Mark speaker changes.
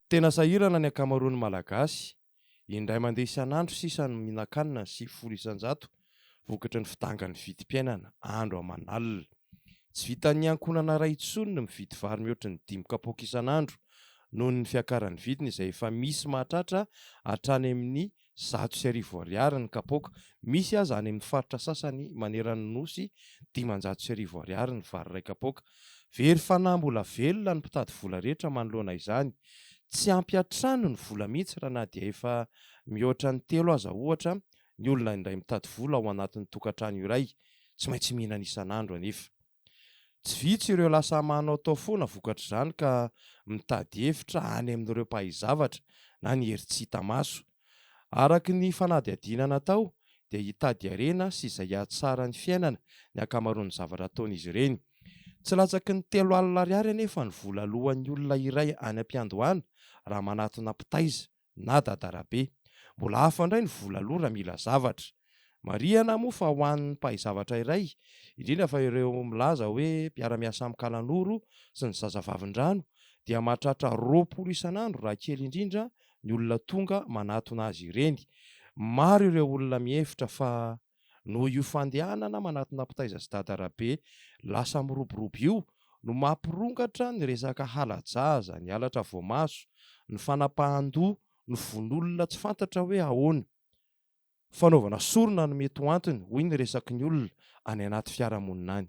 Speaker 1: Tena sahirana ny ankamaroan'ny Malagasy. Indray mandeha isan'andro sisa no mihinan-kanina ny sivifolo isan-jato vokatry ny fidangan'ny vidim-piainana andro aman'alina. Tsy vitan'ny ankohonana iray intsony ny mividy vary mihoatra ny dimy kapoaka isan'andro noho ny fiakaran'ny vidiny izay efa misy mahatratra hatrany amin'ny zato sy arivo ariary ny kapoaka, misy aza any amin'ny faritra sasany maneran'ny Nosy dimanjato sy arivo ariary ny vary iray kapoaka. Very fanahy mbola velona ny mpitady vola rehetra manoloana izany. Tsy ampy hatrany ny vola mihitsy raha na dia efa mihoatra ny telo aza ohatra ny olona indray mitady vola ao anatin'ny tokantrano iray, tsy maintsy mihinana isan'andro anefa. Tsy vitsy ireo lasa manaotao foana vokatr'izany ka mitady hevitra any amin'ireo mpahay zavatra na ny hery tsy hita maso. Araka ny fanadihadiana natao dia hitady harena sy izay hahatsara ny fiainana ny ankamaroan'ny zavatra ataon'izy ireny. Tsy latsaky ny telo alina ariary anefa ny vola aloan'ny olona iray any am-piandohana raha manatona mpitaiza na dadarabe. Mbola hafa indray ny vola aloha raha mila zavatra. Marihana moa fa ho an'ny mpahay zavatra iray, indrindra fa ireo milaza hoe mpiara-miasa amin'ny kalanoro sy ny zazavavindrano, dia mahatratra roapolo isan'andro raha kely indrindra ny olona tonga manatona azy ireny. Maro ireo olona mihevitra fa. Noho io fandehanana manatona mpitaiza sy dada-rabe lasa miroborobo io no mampirongatra ny resaka hala-jaza, ny halatra voamaso, ny fanapahan-doha, ny vono-olona tsy fantatra hoe ahoana, fanaovana sorona no mety ho antony, hoy ny resaky ny olona any anaty fiarahamonina any.